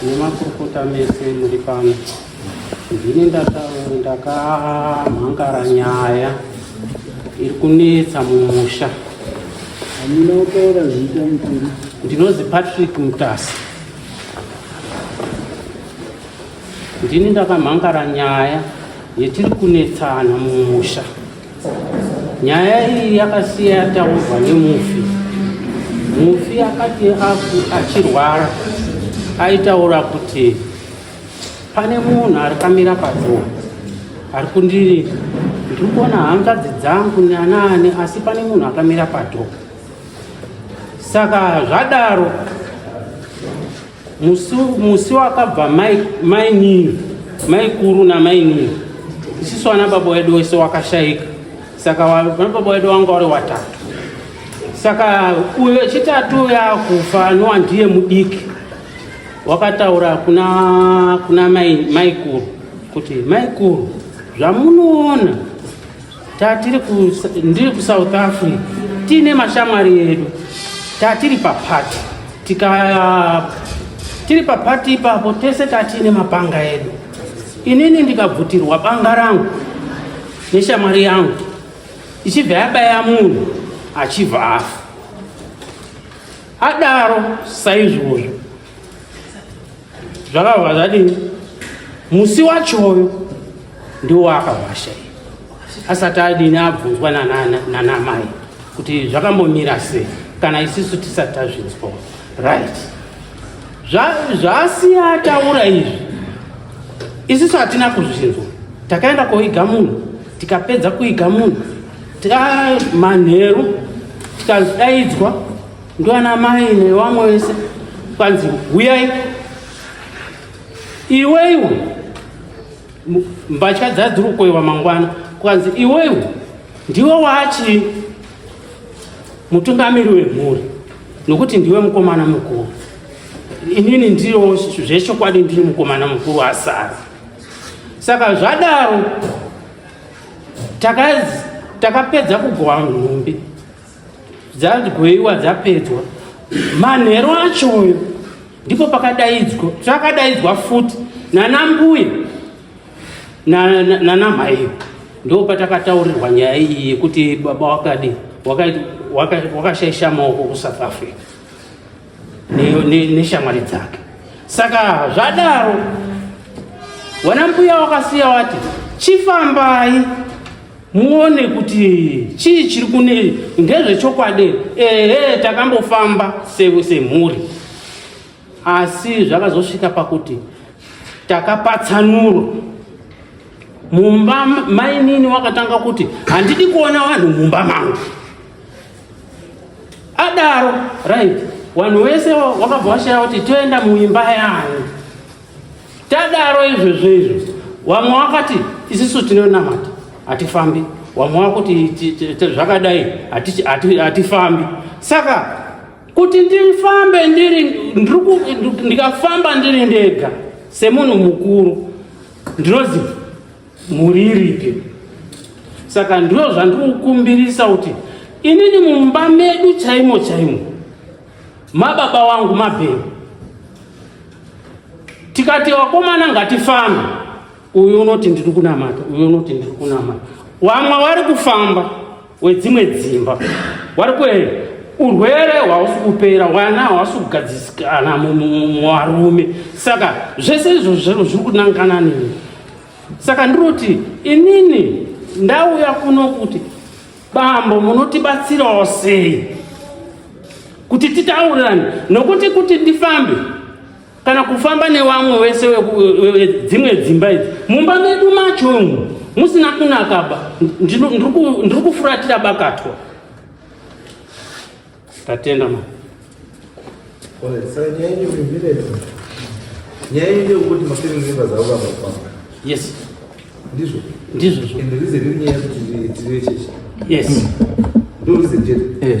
nemakurukota mese muri pano ndini ndakamhangara nyaya iri kunetsa mumusha amina utaura zita mukuru ndinozi patrick mutasi ndini ndakamhangara nyaya yetiri kunetsana mumusha Nyaya iyi yakasiya yataurwa nemufi. Mufi akati achirwara aitaura kuti pane munhu ari kamira padhuwa ari kundiri ndiri kuona hanzvadzi dzangu neanaani asi pane munhu akamira padhuwa saka zvadaro musi wakabva mainini maikuru namainini isisu vana baba wedu wese wakashaika saka vana baba wedu wanga wari watatu saka uyo wechitatu yakufa nowa ndiye mudiki wakataura kuna kuna maikuru kuti maikuru zvamunoona tatiri ndiri kusouth africa tiine mashamwari edu tatiri papati tika tiri papati ipapo tese tatiine mapanga edu inini ndikabvutirwa banga rangu neshamwari yangu ichibva yabaya munhu achibva afa adaro saizvozvo zvakabva zvadini musi wachoyo ndiwo waakavasha asati adini abvunzwa nanamai kuti zvakambomira sei kana isisu tisati tazvinzwa right zvaasiya ataura izvi isisu hatina kuzvinzwa takaenda koiga munhu tikapedza kuiga munhu manheru tikadaidzwa Ndwana mai newamwe wese kwanzi huyai iweiwo mbatya dzadziri kukoiwa mangwana kwanzi iweiwo ndiwe wachi mutungamiri wemhuri nokuti ndiwe mukomana mukuru inini ndiro zvechokwadi ndiri mukomana mukuru asara saka zvadaro takapedza taka kugowa nhumbi dzadyoiwa dzapedzwa manheru acho uyo ndipo pakadaidzwa takadaidzwa futi nanambuya nanamhaiyo ndo patakataurirwa nyaya iyi yekuti baba wakadi wakashaisha maoko kusouth africa neshamwari dzake saka zvadaro wana mbuya wakasiya wati chifambai muone kuti chii chiri kune ndezvechokwadi ehe takambofamba semhuri asi zvakazosvika pakuti takapatsanuro mumba mainini wakatanga kuti handidi kuona vanhu mumba mangu adaro right vanhu vese wakabva washaya kuti toenda muimba yani tadaro izvezvo izvo vamwe wakati isisu tinonamata hatifambi vamwe wakuti zvakadai hatifambi saka kuti ndifambe ndiri ndikafamba ndiri ndega semunhu mukuru ndinoziva Mhuri iripi? Saka ndizvo zvandikukumbirisa kuti inini mumba medu chaimo chaimo mababa wangu mabheni tikati vakomana ngatifambe uyu unoti ndiri kunamata uyu unoti ndiri kunamata vamwe vari kufamba wedzimwe dzimba wari kwe urwere hwausi kupera wana hausi kugadzisikana muvarume saka zvese izvo zvero zviri kunangana nini saka ndiroti inini ndauya kuno kuti bambo munotibatsirawo sei kuti titaurirane nokuti kuti ndifambe kana kufamba newamwe wese wedzimwe dzimba idzi mumba medu macho umu musina kunakaba ndiri kufuratira bakatwa tatenda ma nyaya ine kuti mafamily members avo vavafamba yes ndizvo ndizvozvo and reason iri nyaya yekuti tiri chechi yes ndo reason chete eh.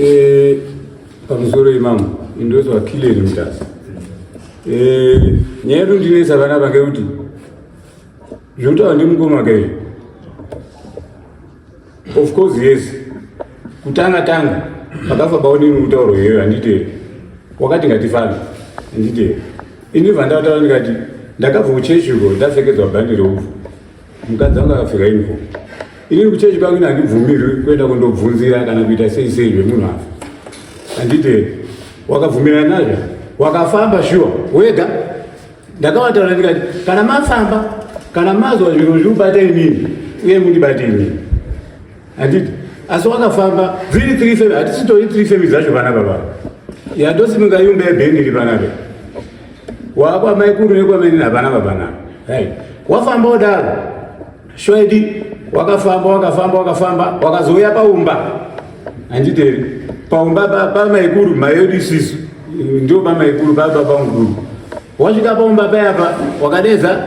Eh, pamusoro imamo indozwa kileni mutasa eh, nyaya yedu ndinesa vana vange kuti zvinotaura ndimukoma kaizvo of course yes kutanga tanga vakafa baonini kutauro here handiteere wakati ngatifambe handiteere ini vandataura ndikati ndakabva kuchechi uko ndapfekedzwa bhandi reupfu mukadzi anga akapfeka uniform inini kuchechi kwangu ini handibvumirwi kuenda kundobvunzira kana kuita sei sei zvemunhu afa handite wakabvumirana nazvo wakafamba shuwa wega ndakavataura ndikati kana mafamba kana mazwa zviro zvirubata inini uye mundibate inini Handiti asi wakafamba dziri three femi hatisitori three femi dzacho vana baba yandosimuka yumba yebhendi iri vana ve wakwamaikuru nekwamene havana vavana right wafamba wodaro shoidi wakafamba wakafamba wakafamba wakazouya paumba handiteri paumba pamaikuru mayedu isisu ndio pamaikuru pababa mukuru Wasvika pamumba paya pa wakadedza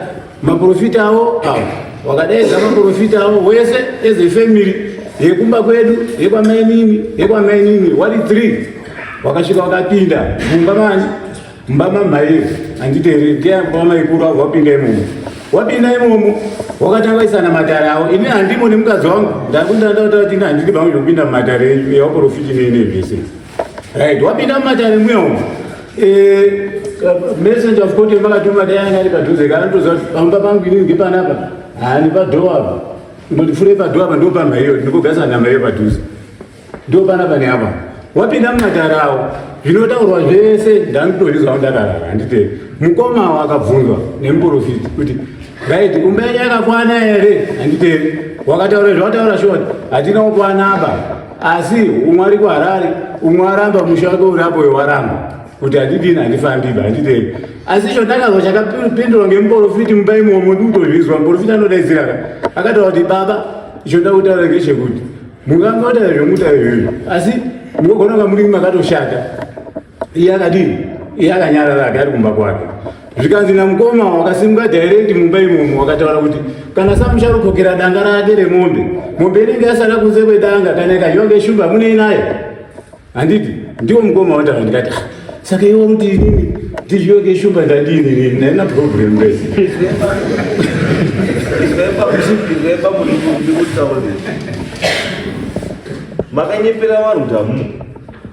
maprofita awo awo wakadedza maprofita awo wese as a family yekumba kwedu yekwamainini yekwamainini wari three wakasvika wakapinda mumba mani mumba mamhaiyo handiteereri keamba maikuru avo wapinda imomo wapinda imomo wakatanga kuisana matare awo ini handimo nemukadzi wangu ndakundandataati ini handidi vangu zvekupinda mumatare enyu ewaprofiti neinevese Right, wapinda mumatare muya umu. Eh, messenger of court yemakatuma dai anga ari padhuze kana ndoziva kuti pamba pangu ini ngepanapa haani padhowa apa ndondifurei padhowa apa ndopamba iyo ndikogasa nhamba iyo padhuze ndopanapa neapa wapinda mumatarawo zvinotaurwa zvese ndanditozvizwa ndakarara handite mukomawo akabvunzwa nemuprofiti kuti right kumba yenyu yakakwana here handite wakataura zvawataura shoti hatina kukwana apa asi umwe ari kuharare umwe aramba musha wake uri apo wewaramba kuti handidini handifambiba handidei asi icho ndakazwa chakapindurwa ngemuporofiti mumba imomo ndikutozvizwa muporofiti anodaidziraka akataura kuti baba icho ndakutaura ngechekuti mungangota zvemuta izvozvo asi mugogona kunga muri makatoshata iye akadii iye akanyarara ake ari kumba kwake zvikanzi namukoma wakasimuka dhairekti mumba imomo wakataura kuti kana samucharukokera danga rake remombe mombe inenge yasara kunze kwedanga kana ikazhonge shumba munei nayo handiti ndiwo mukoma wataura ndikati ah, saka iwo kuti inini ndizhioke shumba ndandini nini naina problem rese makanyepera vanhu tamu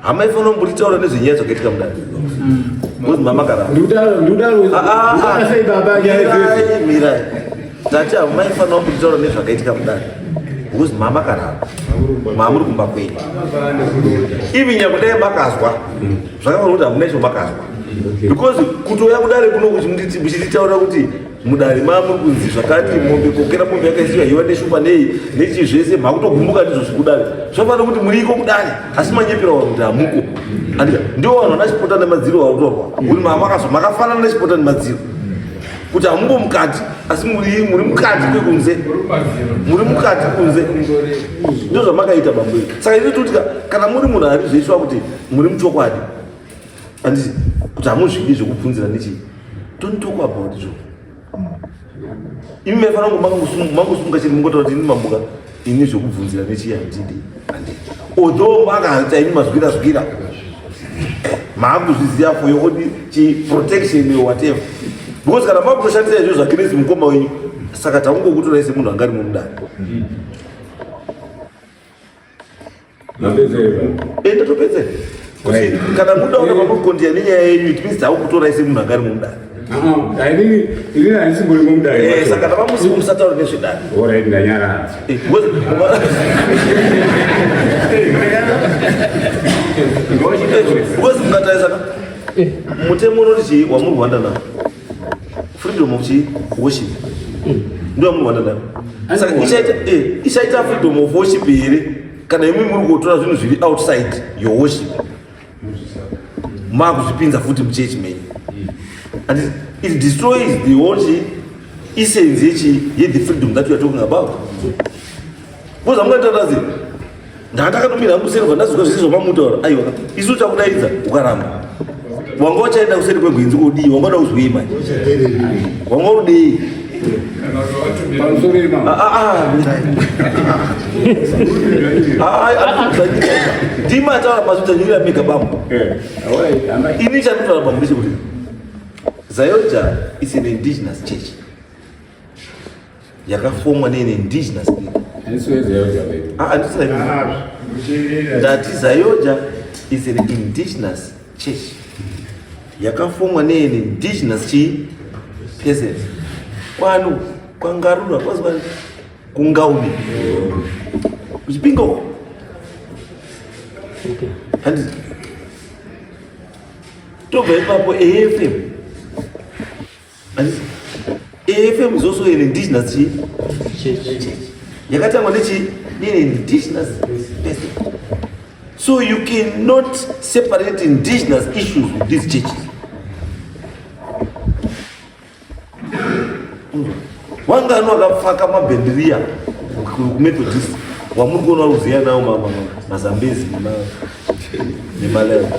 Hama ifono mburi taura nezvenyaya dzakaitika mudare. Ngozi mm. mama karamba. Ndudaro ndudaro. Ah ah. ah, ah. Sei baba nyaya idzi. Mirai. Tati hama ifono mburi taura nezvakaitika mudare. Ngozi mama karamba. Mamuri kumba kwenyu. Ivi nyakudai makazwa. Mm. Zvakaona kuti hamuna izvo makazwa. Because kutouya kudare kuno kuchinditaura kuti mudare mamwe kunzi zvakati mombe kokera mombe yakaisiwa hiwa neshupa nei nechii zvese makutogumbuka ndizvo zvekudare zvafana kuti muriiko kudare asi manyepera vanhu kuti hamuko andika ndiwo vanhu vana chipota nemadziro vakutorwa kuti mamakazo makafanana nechipota nemadziro kuti hamuko mukati asi muri muri mukati kwekunze muri mukati kunze ndozvamakaita bambo saka ini tikuti kana muri munhu arizveiswa kuti muri muchokwadi Andisi kuti hamuzvidi zvekubvunzira nechi don't talk about zvo. Imi mefana ngo mangosumuka chiri mungotaura kuti ini mamuka ini zvekubvunzira nechi handidi. Although makaita ini mazwira zwira maakuzviziva for your own protection or whatever because kana makutoshandisa izvo zvakirezi mukoma wenyu saka taungokutoraise munhu angari mumudana Enda topedze. Kana muda ona mamukondia nenyaya yenyu it means taakutora ise munhu angari mumudare. Ini handisi muri mumudare. Eh, saka tavamusi musataura nezvedare. Alright ndanyara. Eh, Ngozi mukataisa. Eh. Mutemo unoti chii wamuri kuhwanda nawo? Freedom of worship. Ndio mwa dada. Sasa ishaita eh ishaita freedom of worship ile kana imwe muri kutora zvinhu zviri outside your worship. Makuzvipinza futi mu church menu. And it, it destroys the worship essence yechi ye the freedom that you are talking about. Kuza mwana tatazi. Ndandakatumira hangu seri ndazvika zvisizvo mamutaura. Aiwa. Isu uchakudaidza ukaramba. Wanga uchaenda kuseri kwegwenzi kudii? Wanga uda kuzwei manje? Wanga udei? ndima ataura pazvidzanyirira mega bambo ini chandinotaura bambo ndechekuti zayoja is an indigenous church yakafomwa ne indigenous people ndati zayoja is an indigenous church yakafomwa ne indigenous chi peasant kwanu kwangarura kwazwa kungauni kuchipinga uko handi tobva ipapo afm AFM is also an indigenous church. Yakatangwa nechi nini indigenous person. So you cannot separate indigenous issues with these churches. Wangani wakapfaka mabhendiriya kuMethodist wamuri kuona uziya nawo mazambezi nemaleva.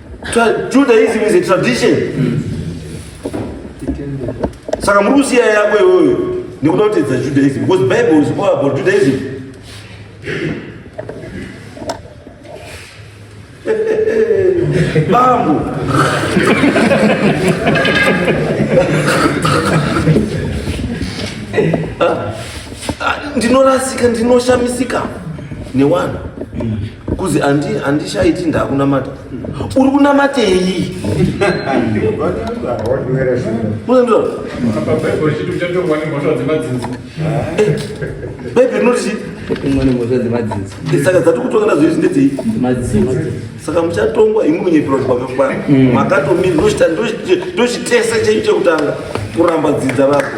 Judaism is a tradition. Mm. Saka muri kusiya yako iyoyo nekuda kutedza Judaism because Bible is all about Judaism. Bambo. Ah, ah, ndinorasika ndinoshamisika newanhu kuzi handishaiti ndakunamata uri kunamatei baibe rinoti saka dzati kutonga nazo izvi ndedzei saka muchatongwa imi munyepera kuti kwakakwana mm. makatomiri ndochitesa chenyu chekutanga kuramba dzidza rako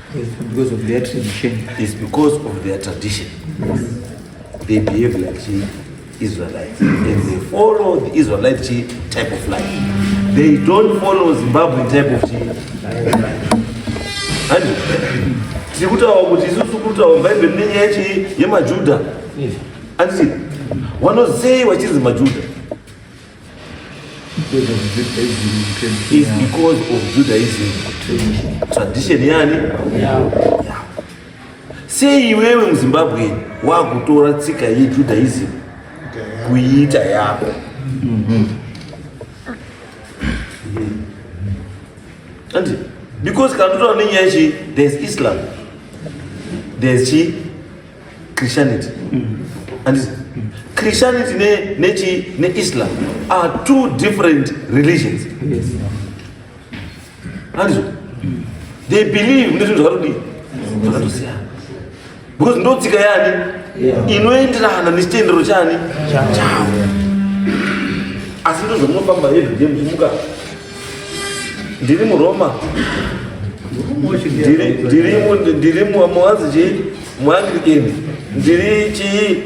because of their tradition. It's because of their tradition. They behave like the Israelites. And they follow the Israelite type of life. They don't follow Zimbabwean type of life. tiri kutaura kuti isusu kuri kutaura bhaibheri nenyaya chii yemajuda anditi vanozei vachinzi majuda Because of Judaism, you can say It's Yahweh. because of Judaism tradition. Tradition yani? Sei iwewe muZimbabwe wakutora tsika yeJudaism kuiita yako? Anti, because kana totaura nenyaya ichi, there's Islam, there's chi Christianity. Mm. And mm. Christianity ne, ne, chi, ne Islam are two different religions. Yes. And mm. they believe in zvakadii zvakatosiyana because ndo tsika yani inoenderana nechitendero chani chavo asi ndo zvamunofamba everyday muchimuka ndiri muroma ndiri muwanzi chii muanglican ndiri chii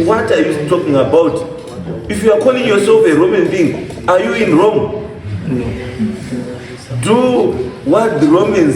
what are you talking about if you are calling yourself a roman being are you in rome do what the romans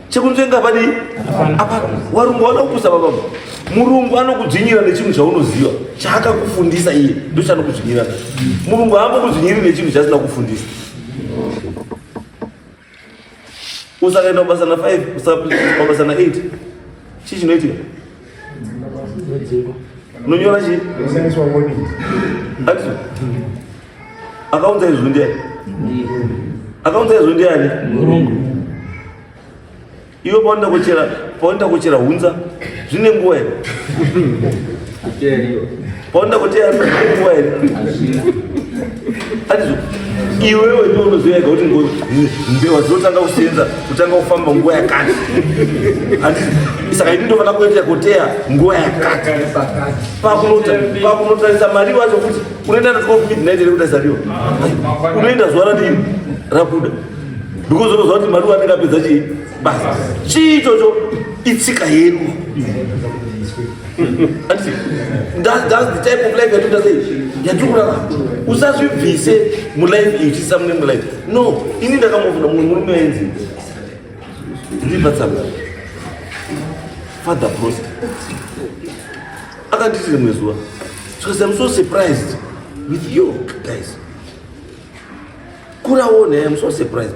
chekunzvenga padii apa warungu wana kupusa baba murungu anokudzvinyira nechinhu chaunoziva chaakakufundisa iye ndo chanokudzvinyira murungu haambokudzvinyiri nechinhu chasina kufundisa usakaenda kubasa na 5 usakaenda kubasa na 8 chii chinoitika Unonyora chii? Action. Akaunza izwi ndiani? Akaunza izwi ndiani? Murungu. Iwe paunoda kuchera, paunoda kuchera hunza zvine nguwa here? Paona kuti anazvikuwa here? Ati iwewe ndiwe unoziva kuti mbewa dzinotanga kusenza kutanga kufamba nguva yakati saka ini ndofana kuita kuteya nguva yakati pakunotarisa mari wacho kuti unoenda midnight ere kutarisa riwo unoenda zuva radii rabuda because unoziva kuti mari wanenge apedza chii basi chii ichocho itsika yedu usazvibvise mulife iyi uchiisa mune mulife no ini ndakambofunga mumwe murume ainzi ndibatsanga father prost akanditi rimwe zuva because i'm so surprised with you guys kuraona i'm so surprised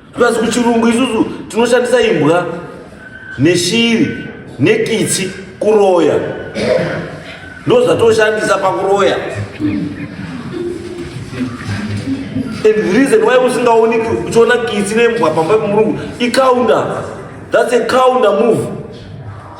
plus kuchirungu isusu tinoshandisa imbwa neshiri nekitsi kuroya ndozvatoshandisa pakuroya and the reason why usingaoni uchiona kitsi nembwa pamba pemurungu icounter that's a counter move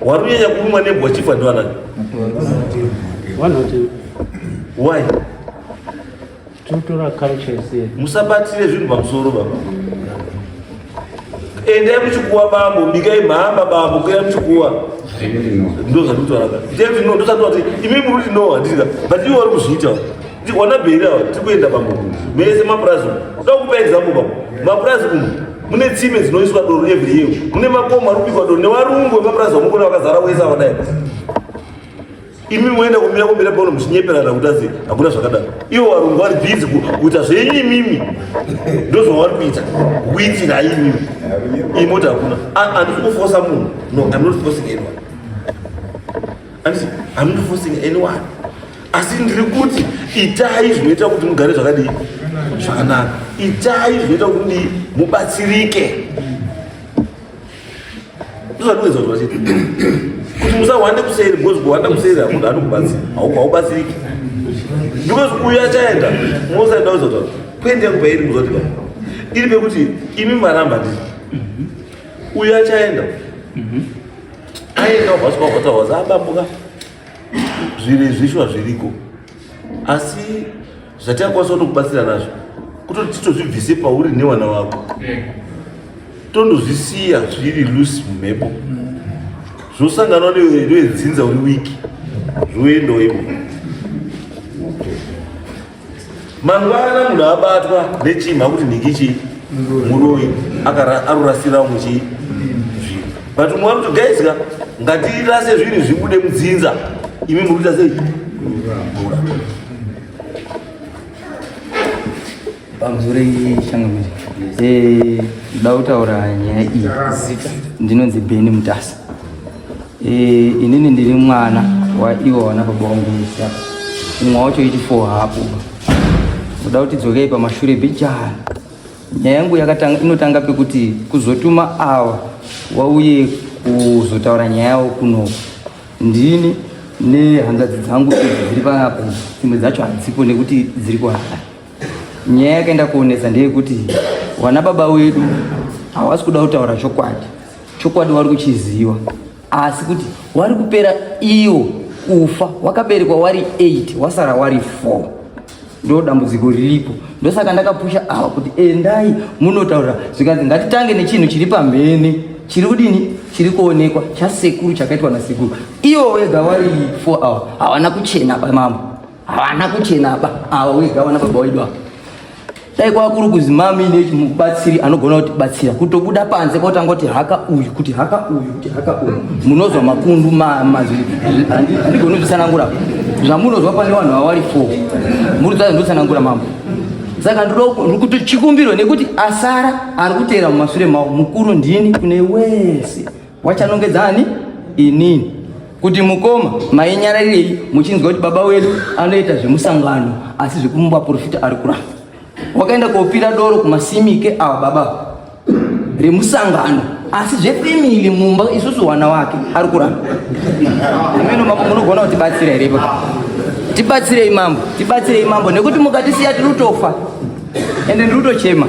Warunyanya kurumwa nembwa chifa ndwana. Why? Tutora culture ise. Musabatire zvinhu pamusoro baba. Endai muchikuwa bambo, bikai mhamba bambo, kuya muchikuwa. Ndozvandinotaura. Ndozvandinotaura kuti imi muri kuti no handika. But iwe uri kuzviita. Tikwana bheri awa tiri kuenda pamwe mese mapurazi umu. Toda kupa example pamwe. Mapurazi umu mune tsime dzinoiswa doro every year. Mune makomo ari kubikwa doro nevarungu vemapurazi vamukona vakazara wese awa dai. Imi moenda kumira kumira pano muchinyeperana kuti azi hakuna zvakadaro. Ivo varungu vari busy kuita zvenyu imimi. Ndozvavari kuita. Kuitira imimi. Imota hakuna. Andisi kufosa munhu. No, I'm not forcing anyone. Anditi, I'm not forcing anyone. Asi ndiri kuti itai zvinoita kuti mugare zvakadii zvakanaka. Itai zvinoita kuti mudii mubatsirike. Ndozvandikuedza kuti vachiti kuti musahwande kuseri because kuhwanda kuseri hamunhu anokubatsira haubatsiriki because uyu achaenda mosaenda kuzota kuenda yangu pairi muzoti pa iri pekuti imi maramba ndii uyu achaenda aendahoswahotahwasa abambuka zviri zvishwa zviriko asi zvatingakwanisa kutokubatsira nazvo kutoti titozvibvise pauri newana wako tondozvisiya zviri lusi mumhepo zvosanganwa needzinza uri wiki zvoendawo ipo mangwana munhu abatwa nechimha kuti nhingi chii muroyi arurasira umwe chii zvinhu but umwe wakuti guys ka ngatirase zvinhu zvibude mudzinza imi muri kuita sei pamzure shangamiri eh, ndoda kutaura nyaya iyi ndinonzi beni mutasa Eh, inini ndiri mwana waiona baba wangu musa umwe wacho iti four hapo uda kuti dzokei pamashure bijana nyaya yangu inotanga pekuti kuzotuma awa wauye kuzotaura nyaya yawo kuno ndini nehanzvadzi dzangu dziri panapa dzimwe dzacho hadzipo nekuti dziri kuhara Nyaya yakaenda kuonesa ndeyekuti wana baba wedu hawasi kuda kutaura chokwadi. Chokwadi wari kuchiziva asi kuti wari kupera iwo kufa wakaberekwa wari 8 wasara wari 4 ndo dambudziko riripo ndosaka ndakapusha ava kuti endai munotaura zvikanzi ngatitange nechinhu chiri pamhene chiri kudini chiri kuonekwa chasekuru chakaitwa nasekuru iwo wega wari 4 awa havana kuchena pamambo Havana kuchena apa ava wega wana baba wedu apa. Dai kwakuru kuzi mami nechi mubatsiri anogona kuti batsira kutobuda panze kwotanga kuti haka uyu kuti haka uyu kuti haka uyu munozwa makundu ma mazwi andigona kutsanangura zvamunozwa pane vanhu vawari four muri dzadza ndotsanangura mambo saka ndikuti chikumbiro nekuti asara ari kuteera mumashure mavo mukuru ndini kune wese Wachanongedza ani? Inini. Kuti mukoma mainyararirei muchinzwa kuti baba wedu anoita zvemusangano asi zvekumba profita ari kuramba. Wakaenda kopira doro kumasimike awa baba remusangano asi zvefamily mumba isusu wana wake ari kuramba. Ameno mambo munogona kuti batsira here ipapo? Tibatsirei mambo, tibatsirei mambo nekuti mukatisiya tiri kutofa. ende ndiri kutochema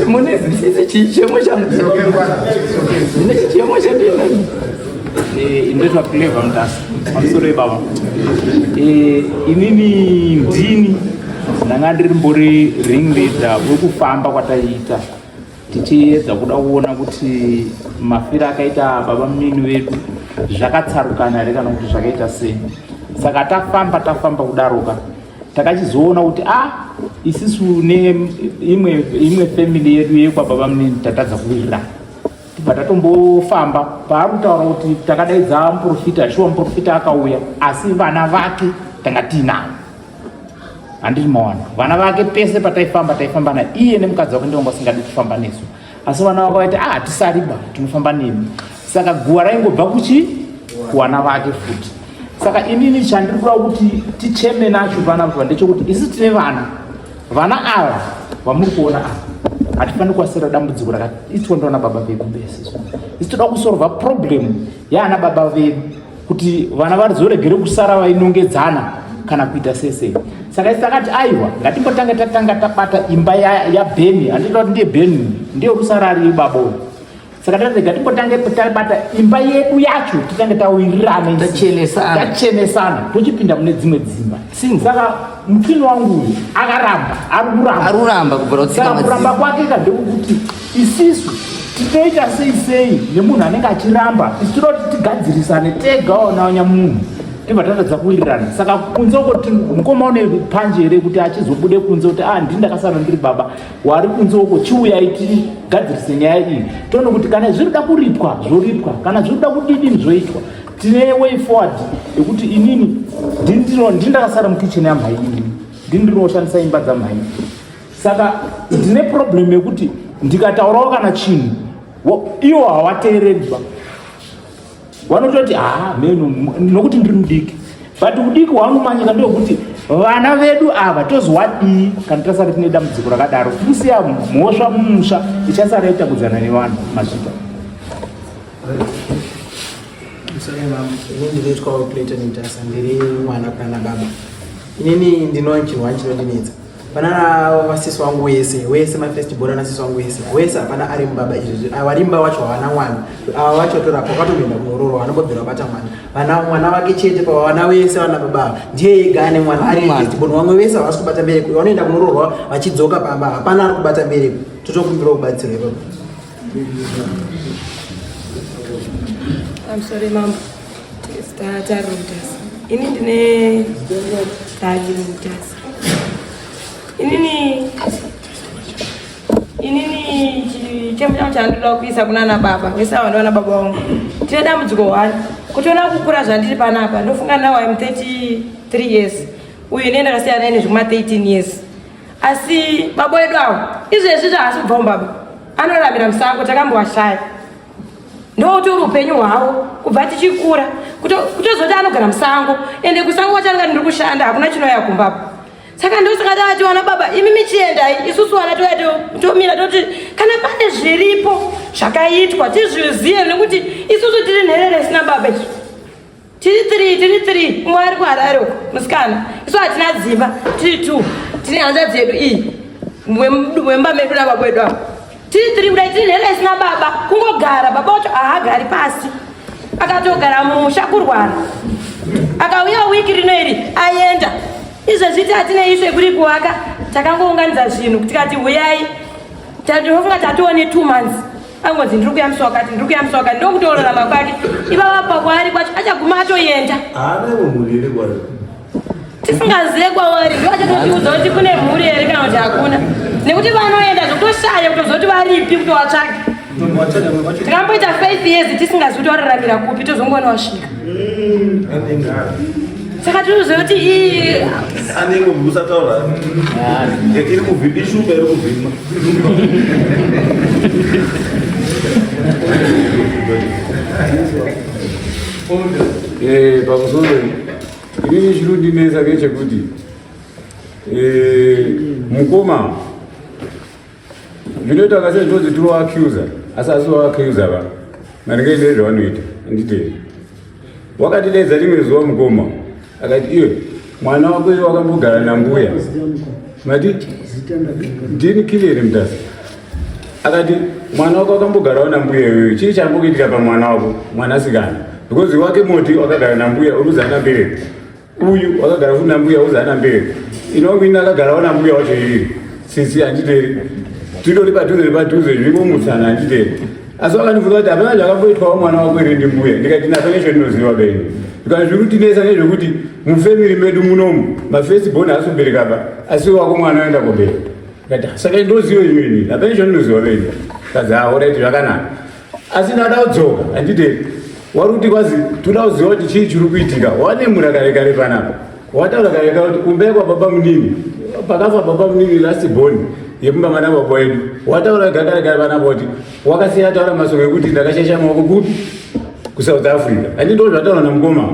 mune chichemo changu ndine chichemo chandina ndoitwa clever mutasa pamusoro ibaba inini ndini ndanga ndiri mbori ring leader wekufamba kwataiita tichiedza kuda kuona kuti mafiro akaita baba mumini vedu zvakatsarukana here kana kuti zvakaita sei saka tafamba tafamba kudaroka takachizoona kuti a ah, isisu neimwe imwe family yedu yekwababa munini tatadza kuwirirana tibva tatombofamba paari kutaura kuti takadaidza muprofita shuwa muprofita akauya asi vana vake tanga tiinavo handiti mawana vana vake pese pataifamba taifamba na iye nemukadzi wake ndivanga vasingadi kufamba nesu asi vana vako vaiti ah tisariba tinofamba nemi saka guva raingobva kuchi kuwana vake futi saka inini chandiri kuda kuti ticheme nacho vana vaa ndechokuti isi tine vana vana ava vamuri kuona ava hatifaniri kuasira dambudziko rakaitwa ndovana baba vedu bese isi toda kusorva problem yaana baba vedu kuti vana vazoregere kusara vainongedzana kana kuita sese saka isi takati aiwa ngatimbotange tatanga tabata imba yabheni ya handitoda kuti ndiye bheni ndiyo kusara ari ibaba uyu saka tati ngatimbotange tabata imba yedu yacho titange tawirirana tachenesana tochipinda mune dzimwe dzimba saka mukini wangu uyu akaramba ari kuramba kuramba kwake ka ndekukuti isisu tinoita sei sei nemunhu anenge achiramba isu tinoti tigadzirisane tega onaonya munhu tibva tatadza kuwirirana saka kunze uko ti mukoma une panje here kuti achizobude kunze kuti ah ndini ndakasana ndiri baba wari kunze uko chiuyai tigadzirise nyaya iyi toone kuti kana zviri da kuripwa zvoripwa kana zviri da kudidini zvoitwa tine way forward yekuti inini ndini ndakasara mukitchen yamhainini ndini ndiri oshandisa imba dzamhaini saka ndine problem yekuti ndikataurawo kana chinhu iwo hawateereriba vanototi haa meno nokuti ndiri mudiki but udiki hwanomanyika ndeokuti vana vedu ava tozowadii kana tasara tine dambudziko rakadaro tikusiya mhosva mumusha ichasara itakudzana nevanhu mazvita ndinoitwawo plate nitasa ndiri mwana kana baba inini ndinochirwa chinondinetsa banana vasisi wangu wese wese my first born anasisi wangu wese wese hapana ari mubaba izvezvi awa rimba wacho havana mwana awa wacho torapa kwatoenda kunororo vanombobvira vabata mwana vana mwana wake chete pavana wese vana baba ndiye ega ane mwana ari first born vamwe vese havasi kubata mbereko vanoenda kunororwa vachidzoka pamba hapana ari kubata mbereko totokumbira kubatsirwa ipapo I'm sorry, Mom. It's that I wrote this. You need to know that you wrote this. inini inini chichemo changu chandoda kuisa kunana baba vese ava ndovana baba vangu tine dambudziko one kutiona kukura zvandiri panapa ndofunga now im 33 years uyu ne ndakasiya naye nezvekuma 13 years asi baba wedu avo izvezvi zvaasi kubva mubaba anoramira musango takambowashaya ndoutori upenyu hwavo kubva tichikura kutozoti anogara musango ende kusango kwatanga ndiri kushanda hakuna chinoya kumbapo saka ndosaka tavati vana baba imi michiendai isusu vana toya tomira toti kana pane zviripo zvakaitwa tizvizive nekuti isusu tiri nherere isina baba isu tiri three tiri three umwe ari kuharare uko musikana isu hatina dzimba tiri two tine hanza dzedu iyi wemba medu nava kwedu ava tiri three kudai tiri nhera isina baba kungogara baba wacho ahagari pasi akatogara mumusha kurwara akauya wiki rino iri aenda izvezvi ti hatine ishe kuri kuwaka takangounganidza zvinhu tikati huyai tatofunga tatoone two months angonzi ndiri kuyamisa wakati ndiri kuyamisa wakati ndokutoororama kwake ivava pakwaari kwacho achaguma atoyenda tisingazive kwavari ndo achatotiudza kuti kune mhuri here kana kuti hakuna nekuti vanoenda zvokutoshaya kutoziva kuti varipi kutovatsvaga tikamboita five years tisingazivi kuti wararamira kupi tozongoona wasvika saka tinoziva kuti ii anenge musataura iri kuvhima ishuka iri kuvhima Eh, pamusoro inini chinondinetsa ngechekuti eh, mukoma zvinoita kase ndozitinoacusa asi asi waacusa va maringe nezvavanoita anditei wakatidaidza rimwe zuva mukoma akati iwe mwana wako iye wakambogara nambuya mati ndini kilere mutasa akati mwana wako wakambogarawo nambuya iyoyo chii chambokuitika pamwana wako mwanasikana because wake moti wakagara nambuya uruzi akabereka uyu wakagara kuna mbuya uzana mberi inowina akagara ona mbuya wacho iri sisi handiteri titori padhuze nepadhuze zvingomutsana handiteri asi wakandifunga kuti hapana zvakamboitwawo mwana wako iri ndimbuya ndikati nasa nezvo ndinoziva benyu zvikanzi zviri kutinesa nezvekuti mufamiri medu munomu mafirst bon haasi kubereka pa asi wako mwana oenda kobereka ndikati saka ndoziva imini hapana izvo ndinoziva benyu kazi haoraiti zvakanaka asi ndada kudzoka handidei wari kuti kwazi toda kuziva kuti chii chiri kuitika wanemura kare kare panapa wataura kare kare kuti kumba yekwa baba munini pakafa baba munini last born yekumba mana baba wedu wataura ga kare kare panapa kuti wakasiya taura masoko ekuti ndakashasha maoko kupi kusouth africa handii ndo zvataura namukoma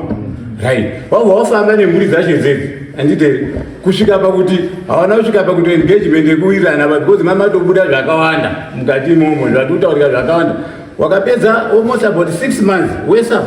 right wabva wafamba nemhuri dzacho dzedzi handidei kusvika pakuti havana kusvika pakuti engagement yekuwirirana but because mama tobuda zvakawanda mukati imomo zvatutaurika zvakawanda wakapedza almost about six months wesa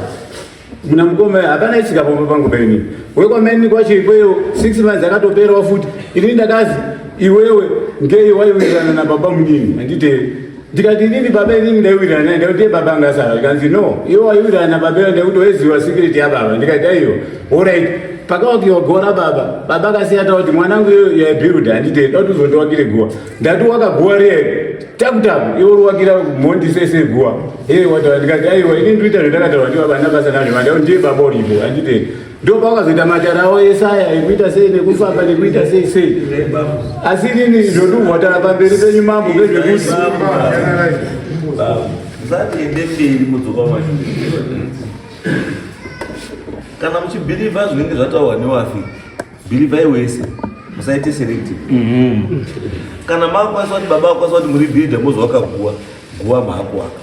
muna mukoma hapana isika pomba pangu peni wekwameni kwacho ikweyo six months akatoperawo futi ini ndakazi iwewe ngei waiwirirana nababa munini handitei ndikati inini baba inini ndaiwirirana naye ndakuti ye baba anga asara zvikanzi no iwe waiwirirana nababa iyo ndakuti waiziva sikiriti yababa ndikati aiyo orit pakawakiwa gowa rababa baba akasiya takuti mwanangu iyo yaibuilda handite ndauti uzondiwakire guwa ndati wakaguwa riye takutaku iwe uriwakira mhondi sese guwa e wataura ndikati aiwa inini ndoita zvandakataura ndibaba ndabasa nazvo vandakuti ndiye baba uripo handite Ndio paka zita majara o Yesaya ekuita sei nekufamba nekuita sei sei. Asi nini zvoduhwa tara pamberi penyu mambo vezvekuti. Zatiende mberi mudzoka mashure. Kana muchibhirivha zvinenge zvataurwa newafi, bhirivhai wese musaite selective. Mhm. Kana makwanisa kuti baba akwanisa kuti muri bhidha mozovakaguwa. guva maakuwaka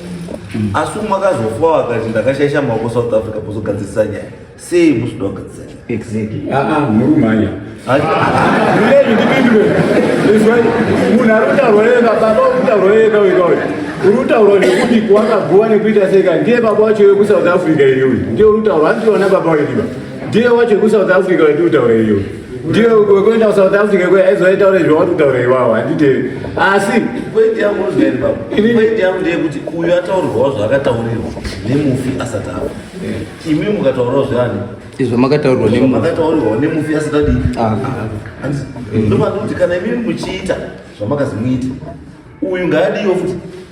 asi umwe akazofa wakati ndakashaisha maoko south africa pozogadzirisa nyaya sei musuda kugadzirisa nyaya exactly aa ah, ah, murumhanya ndipindure izwai munhu ari kutaurwa yega baba uri kutaurwa yega wega uyu uri kutaurwa nekuti kuwakaguva nekuita seka ndiye baba wacho wekusouth africa iyoyi ndiye uri kutaurwa anditiona baba wediba ndiye wacho wekusouth africa wendiri kutaura iyoyi ndiye wekuenda kusouth africa kuya aizoitaure zvauri kutaura iwawo handitevi asi pointi yangu unozvaini baba pointi yangu ndeyekuti uyo ataurirwawo zvaakataurirwa nemufi asati afa imi mukataurawo zveani izvo makataurirwa nemakataurirwa nemufi asati adii ah. ndopanoti kana imimi muchiita zvamakazimuita uyu ngaadiwo futi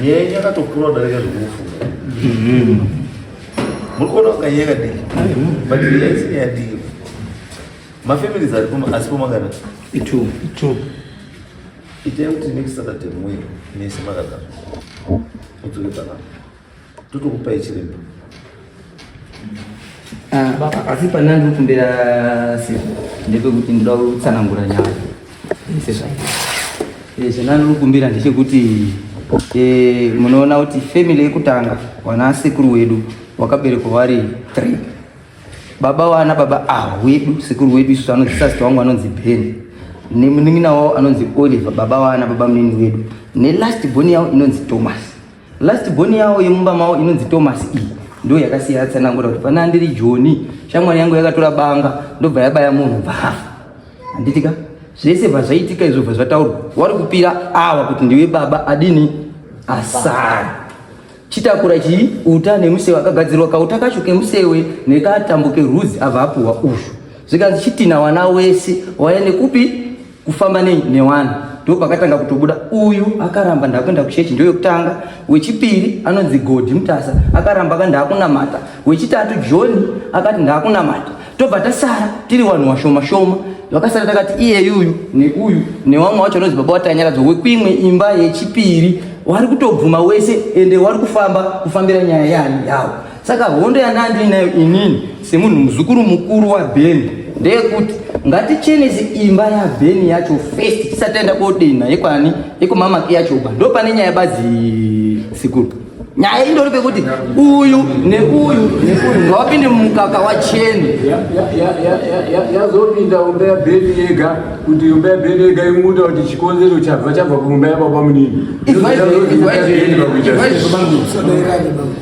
nyaya yenyu yakatokura kudarika zvekufunga mm-hmm. muri kuona kunga nyaya yakadii but nyaya isina yadii mafamilies ari kuno asi pomangana itu itu itai kuti next saturday muye mese makagara udzoke panapa Totokupai chiremba. Ah, asi pane andiri kumbira siku ndepekuti ndoda kutsanangura nyaya zvanandiri eh, kumbira ndechekuti eh, munoona kuti family yekutanga wana sekuru wedu wakaberekwa vari three baba wana baba ava ah, wedu sekuru wedu isu anonzi sasita wangu anonzi ben nemunin'ina wavo anonzi oliver baba wana baba munini wedu nelast boni yavo inonzi thomas Last born yawo yemumba mawo inonzi Thomas E ndo yakasiya atsanangura kuti pana ndiri Joni shamwari yangu yakatora banga ndobva yabaya munhu bvafa handitika zvese bvazvaitika izvo bva zvataurwa wari kupira awa kuti ndiwe baba adini asara chitakura chii uta nemusewe akagadzirwa kauta kacho kemusewe nekatambo kerudzi abva apuhwa uzvo zvikanzi chitina wana wese waende kupi kufamba nei newanhu ndipo pakatanga kutobuda uyu akaramba ndakuenda kuchechi ndiyo yokutanga wechipiri anonzi godhi mutasa akaramba akati ndakunamata wechitatu johni akati ndakunamata tobva tasara tiri vanhu washoma shoma vakasara takati iyeyuyu neuyu newamwe wacho anonzi baba watanyaradzwa wekuimwe imba yechipiri wari kutobvuma wese ende wari kufamba kufambira nyaya yani yawo Saka hondo yanga ndiinayo inini semunhu muzukuru mukuru waBeni ndeyekuti ngatichenese imba yaBeni yacho first tisati taenda kodenha yekwani yekumamaki yacho uba ndo pane nyaya bazi sikuru nyaya indori pekuti uyu neuyu neuyu ngawapinde mumukaka wacheni yazopinda umba yabheni yega kuti umba yabheni yega imuda kuti chikonzero chabva chabva kumumba yababa munini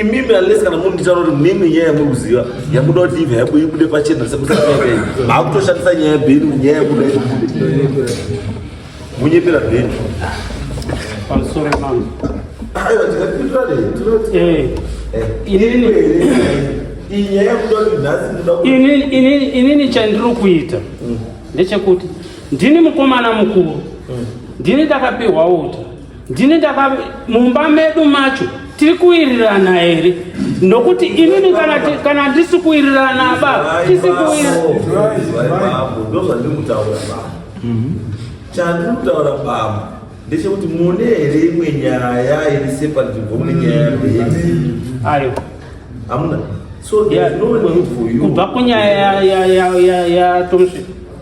imimi unless kana munditaura kuti mimi nyaya yamukuziva yamuda kuti ive yabo ibude pachena sekusaakaii maakutoshandisa nyaya yabheni nyaya yakuda ibude munyepera bheni pamusoro pano inini chandiri kuita ndechekuti ndini mukomana mukuru ndini ndakapiwa uta ndini ndaka mumba medu macho tiri kuwirirana here nokuti inini kana ndisi kuwirirana baba tisi mhm. chandiri kutaura baba ndechekuti mune here imwe nyaya iri sepa nzvimbo mune nyaya yabheti ayo hamuna so kubva kunyaya ya tomsvika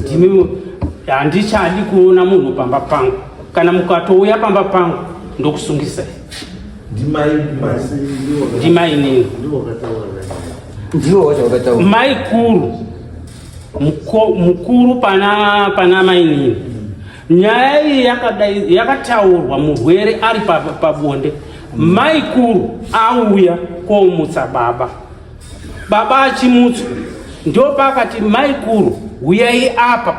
Ndimi handichadi kuona munhu pamba pangu. Kana mukatouya pamba pangu ndokusungisai. Ndimai masi ndiwo. Ndimai nini? Ndiwo kataura. Ndiwo wacho wakataura. Mai kuru. Muko, mukuru pana pana mai nini? Nyaya iyi yakadai yakataurwa murwere ari pabonde. Pa, pa maikuru auya komutsa baba Baba achimutswa ndopaakati maikuru huyai apa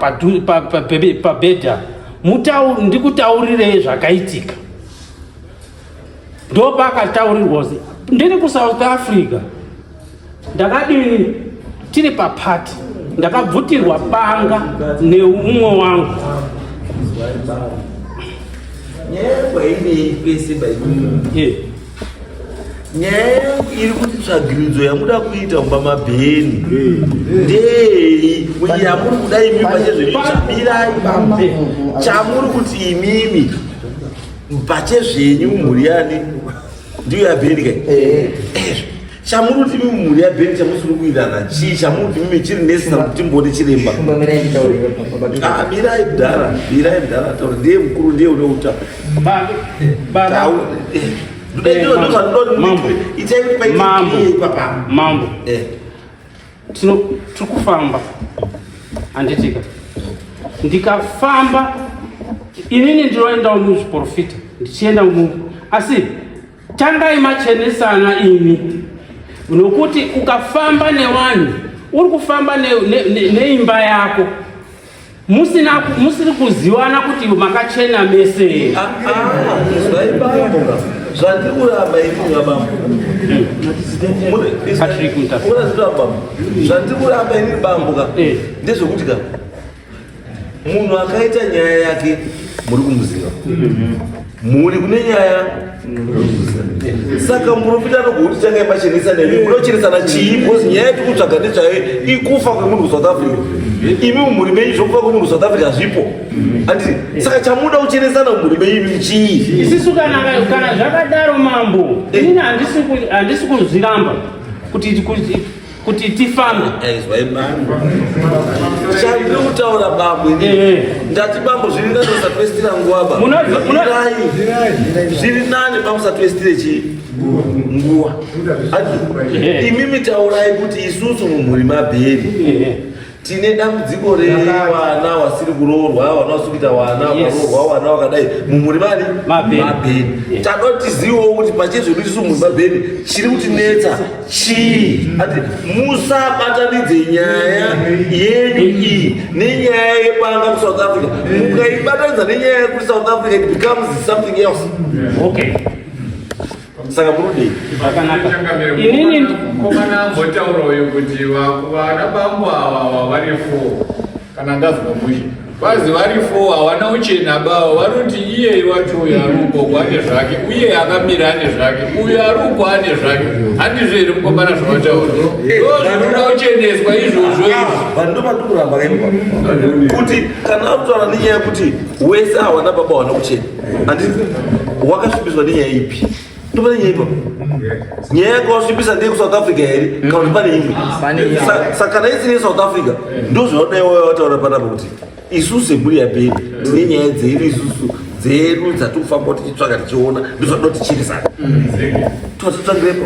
pabhedha ndikutaurirei zvakaitika ndopaakataurirwa ndiri kusouth africa ndakadii tiri papati ndakabvutirwa banga neumwe wangu nyaya yangu hainei pese baii nyaya yangu iri kuti tsvagiridzo yamuda kuita kumba mabheni ndei yamuri kuda imimi pachezvenyuchambirai bambe chamuri kuti imimi pachezvenyu mhuri yani ndiyo yabheni kai chamuri kuti mimi mhuri yabheni chamusiri kuirana chii chamuri kuti mimi chiri nesi kana kuti mbone chiremba ah, mirai mdhara mirai mdhara taura ndiye mukuru ndiye une uta mambo eh. tiri kufamba handitika ndikafamba inini ndinoendawo muzviporofita ndichienda mumu asi Tangai machenesana imi nokuti ukafamba nevanhu uri kufamba neimba ne, ne, ne yako musina musiri kuziwana kuti makachena mese ah, ah, zvandikuramba ikunga baba zvandikuramba ini bambuka eh. ndezvekuti ka munhu akaita nyaya yake muri kumuziva mhuri kune nyaya saka muprofita anogokuti changai machenesa nemi munochenesana chii bcause nyaya yatiri kutsvaga ndezvayo ikufa kwemunhu kusouth africa imi mumhuri menyu zvokufa kwemunhu south africa zvipo andi saka chamuda kuchenesana mumhuri menyu imi chii isisu kana zvakadaro mambo ini handisi kuzviramba kuti kuti tifambe aizwai eh, bambo chandiri kutaura bambo ini eh, eh. ndati bambo zviri nani usatwestira nguva bamboai zviri nani bambo usatwestire chii nguva imimi taurai kuti isusu mumhuri mabheri tine dambudziko rewana wasiri kuroorwa wana wasiri kuita wana wakaroorwa wana wakadai mumuri mani mabheni tanotizivawo kuti pachezvedu tisu mumuri mabheni chiri kutinetsa chii ati musabatanidze nyaya yenyu iyi nenyaya yebanga kusouth africa mukaibatanidza nenyaya yekuri south africa it becomes something else okay saka kunodei zvakanaka inini komana ambotaura uyu kuti vana bambo ava vari four kana ndazwa mushe vazi vari four havana uchena bavo vanoti iyeye wacho uyo ari uko ane zvake uye akamira ane zvake uyo ari uko ane zvake handizvo here mukomana zvavataura ndo zvinoda kucheneswa izvozvo izvovando vati kuramba kuti kana akutaura nenyaya yekuti wese hawana baba wana kuchena Anditi wakasvibiswa nenyaya ipi? Topane nyaya ipapo. Nyaya yako wasvibisa ndeye kuSouth Africa here? Kana kuti pane imwe? Pane imwe. Sa- Saka kana isiri yeSouth Africa ndozvinoda iwewe wataura panapa kuti isu semhuri yaBheni tine nyaya dzedu isusu dzedu dzatiri kufamba tichitsvaga tichiona ndozvatoda tichirisana. Tototsangirepo.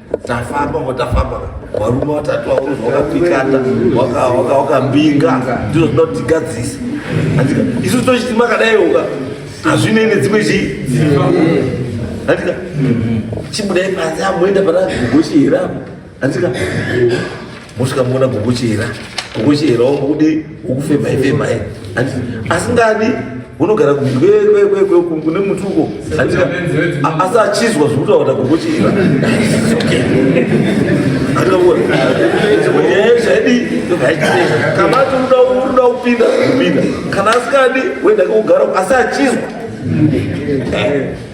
tafamba ngo tafamba varume vatatu vaunzi wakapikata wakambinga ndizvo zvinoda kuti tigadzise andika isu tochiti makadai uka hazvinei nedzimwe chii andika chibudai panze amoenda pana gogoshi here apo andika mosvika muona gogochera gogochera wangu kudii ukufemai femai asingadi unogara kune mutuko asi achizwa zvokutaura kuti agogochera kana atoda unoda kupinda kupinda kana asikadi wenda kugara asi achizwa